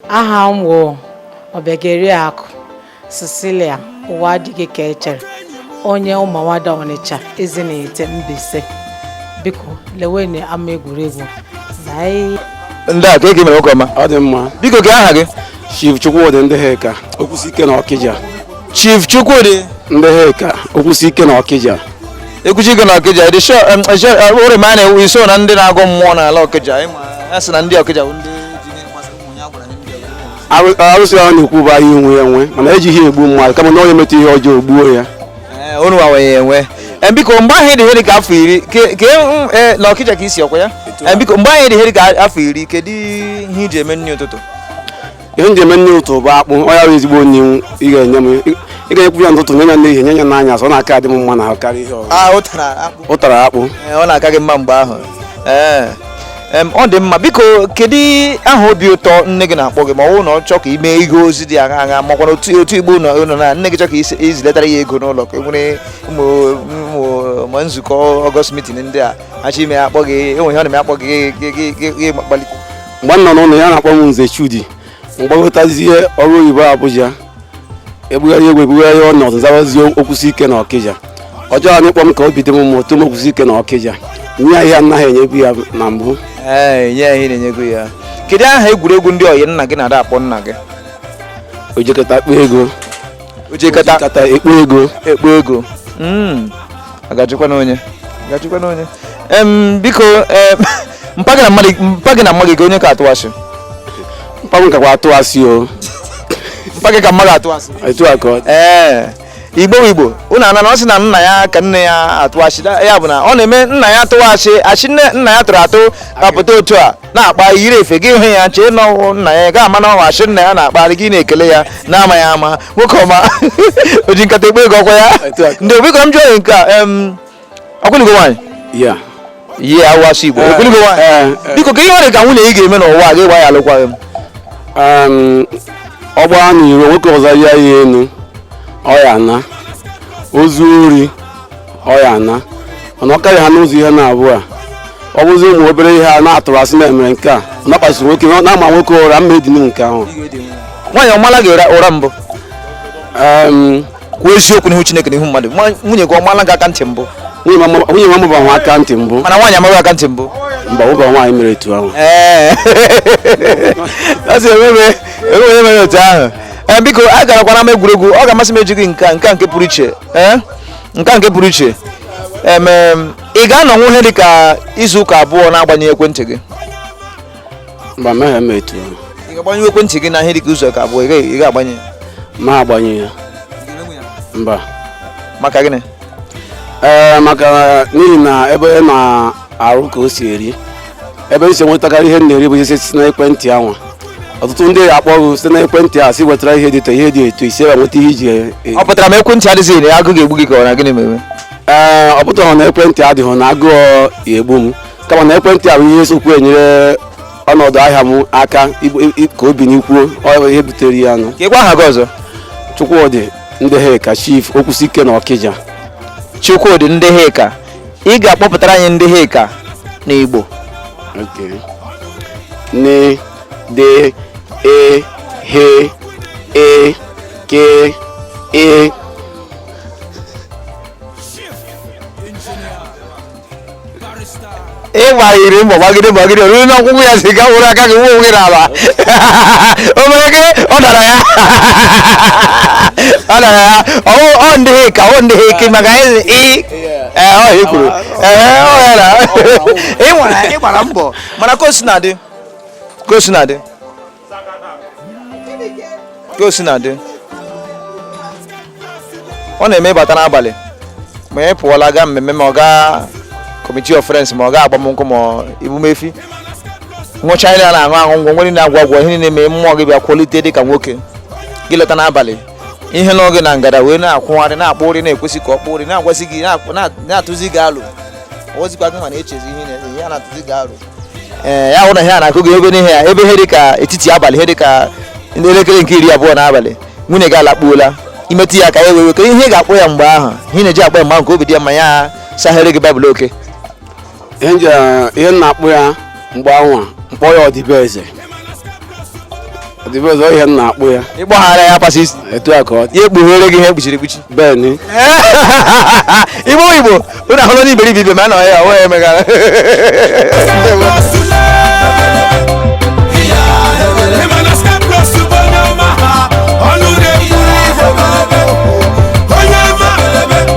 aha m wụ Ọbịageriakụ Cecilia ụwa adịghị ka echere onye Ụmụawada Ọnịcha Ezinihitte Mbaise biko lewenụ ama egwuregwu ndị a ka eke mere nwoke ọma ọ dị mma biko gị aha gị Chief Chukwudi ndị ha ka okwusi ike na Ọkịja Chief Chukwudi ndị ha ka okwusi ike na Ọkịja okwusi ike na Ọkịja dị sure ụrị ma na-ewu i so na ndị na-agọ mmụọ n'ala Ọkịja a sị na ndị Ọkịja bụ ndị arụsị ahụ na-ekwu bụ anyị nwe ya enwe mana ejighị egbu mmadụ kama na onye metụ ihe ọjọọ gbuo ya unu nwe ya enwe Eh, biko mgbe ahụ ị dị ihe dị ka afọ iri ke ke mm, eh, na ọkịja ka i si ọkwa ya Eh, biko mgbe ahụ ị dị ihe dị ka afọ iri kedu ihe i ji eme nri ụtụtụ ihe m ji eme nri ụtụtụ bụ akpụ ọ ya bụ ezigbo nri ị ga-enye m ị ga-enyekwu ya n'ụtụtụ nye ya n'ehihie nye ya n'anyasị ọ na-aka adị m mma n'ahụ karịa ihe ọzọ ah ụtara akpụ ụtara akpụ Eh, ọ na-aka gị mma mgbe ahụ ee Em, ọ dị mma biko kedu aha obi ụtọ nne gị na-akpọ gị ma ọ bụrụ na ọ chọọ ka ị mee ihe ozi dị aṅa aṅa makwa na otu otu igbo ụlọ ụlọ na nne gị chọọ ka isi- i ziletara ya ego n'ụlọ ka e nwere ụmụ ụmụ ma nzukọ ọgọst mitin ndị a achọ ime ya akpọ gị e nwe ihe ọ na-eme akpọ gị gị- gị- gị- gị gbalite mgbe m nọ n'ụlọ ya na-akpọ m nze Chudi m gbagotazie ọrụ oyibo Abuja ebugharị egwu ebugharị ọnọdụ zawazie okwusi ike na Ọkịja ọ chọọ anyị kpọ m ka obi dị m mma o tuo m okwusi ike na Ọkịja nye ya ihe anaghị enyebu ya na mbụ ee nye ya ihe na-enyebu ya kedu aha egwuregwu ndị ọyị nna gị na-ada akpọ nna gị o ji nkata ekpo ego o ji nkata ekpo ego ekpo ego Mm. a ga-ajụkwa na onye A ga-ajụkwa na onye Em, biko em, mpa gị na mma gị mpa gị na mma gị kee onye ka atụ asị mpa m kakwa atụ asị o mpa gị ka mma gị atụ asị etu a ka ọ dị. ee igbo bụ igbo unu anụna ọ sị na nna ya ka nne ya atụ asị Da- ya bụ na ọ na-eme nna ya tụwa asị asị nne nna ya tụrụ atụ apụta otu a na-akpa yiri efe gị hụ ya chee na ọ wụ nna ya ga ama na ọ wụ asị nna ya na-akparị gị na-ekele ya na-amaghị ama nwoke ọma o ji nkata ekpo ego ọkwa ya ndị biko m jụọ nke a em, ọkwa ị lụgo nwaanyị Yeah. yeah awụghị Igbo ọkwa ị lụgo nwaanyị Eh, eh, biko kee ihe e nwere ka nwunye gị ga-eme n'ụwa a gị agba ya alụkwaghị m um, ọ gbaa n'iro nwoke ọzọ ya ya enu ọ ya na o zuo ori ọ ya na mana ọ karịa ha n'ụzọ ihe naabọ a ọ bụzi ụmụ obere ihe a na-atụrụ asị na-emere nke a nakwasị nwoke na-ama nwoke ụra m ma-edinu nke ahụ nwaanyị ọ maala gị ụra ụra mbụ Em, kwuo eziokwu n'ihu chineke n'ihu mmadụ Nwa- nwunye gị ọ maala gị aka ntị mbụ nwunye m ama- nwunye m amaba m aka ntị mbụ mana nwaanyị ama gị aka ntị mbụ mba ụba nwaanyị mere etu ahụ ee asị emebe emebe onye mere otu ahụ ee biko a garakwana ama egwuregwu ọ ga-amasị m eji gị nke a nke a nke pụrụ iche ee nke a nke pụrụ iche em, em, ị ga-anọnwu ihe dị ka izu ụka abụọ na-agbanye ekwentị gị mba emeghị m etu ahụ ị ga-agbanyụ ekwentị gị na ihe dị ka izu ụka abụọ ị gaghị- ị ga-agbanye ma agbanye ya mba maka gịnị ee maka n'ihi na ebe na arụ ka o si eri ebe m si enwetakarị ihe m na-eri bụ ihe si n'ekwentị anwa ọtụtụ ndị akpọ gị site n'ekwentị a si wetara ihe dị etu ihe dị etu i si ebe nweta ihe iji e- e- ọ pụtara ma ekwentị adịghị na agụụ ga-egbu gị ka ọ na gịnị mere ee ọ pụtara na ekwentị adịghị na agụụ egbu m kama na ekwentị a bụ ihe sokwu enyere ọnọdụ ahịa m aka ibu- i- i- ka obi n'ikwuo ọ bụ ihe butere ya nụ ka ị gwa aha gị ọzọ Chukwudi Ndịhịka chief Okwusiike na Ọkịja Chukwudi Ndịhịka ị ga-akpọpụtara anyị Ndịhịka n'igbo Okay. Ni, de, e, he, e, ke, e. ị gbanyere mbọ gbagide gbagide ruo n'ọgwụgwụ ya si gaa were aka gị wuo gị n'ala o mere gị ọ dara ya ọ dara ya ọ ọ Ndịhịka ọ Ndịhịka maka ị ee ọ ya kwuru ee ọ ya na ị nwara ị gbara mbọ mana ka o si na-adị ka o si na-adị ka o si na-adị ọ na-eme ị bata n'abalị ma ị pụọla gaa mmemme ma ọ gaa committee of friends ma ọ gaa agbamnkwụ ma ọ emume efi ṅụcha ihe a na-aṅụ aṅụ ngwọ nwere na-agwọ agwọ ihe na-eme mmụọ gị bịa kwalite dị ka nwoke gị lọta n'abalị ihe nọ gị na ngada wee na-akwụgharị na-akpọ ụrị na-ekwesị ka ọ kpọ ụrị na-agwazi gị na-akpọ- na- na-atụzi gị alo ozikwa gị mana echezi ihe na-eme ihe a na-atụzi gị alo ee ya hụ na ihe a na-akụ gị ego n'ihe ya ebe ihe dị ka etiti abalị ihe dị ka ndị elekere nke iri abụọ n'abalị nwunye gị alakpuola i metụ ya aka ya wee wake ihe ị ga-akpọ ya mgbe ahụ ihe ị na-eji akpọ ya mgbe ahụ ka obi dị ya mma ya saghere gị baịbụl Okay ihe m na-akpọ ya mgbe anwa m kpọ ya ọdịbeze ọdịbeze ọ ihe m na-akpọ ya ịgbaghara ya pasị isi etu a ka ọ ya ekpughere gị ihe ekpuchiri ekpuchi be anyị igbo igbo ụnụ ahụla n'iberibe ibe ma a nọ ya ọ wee megara Onye ọma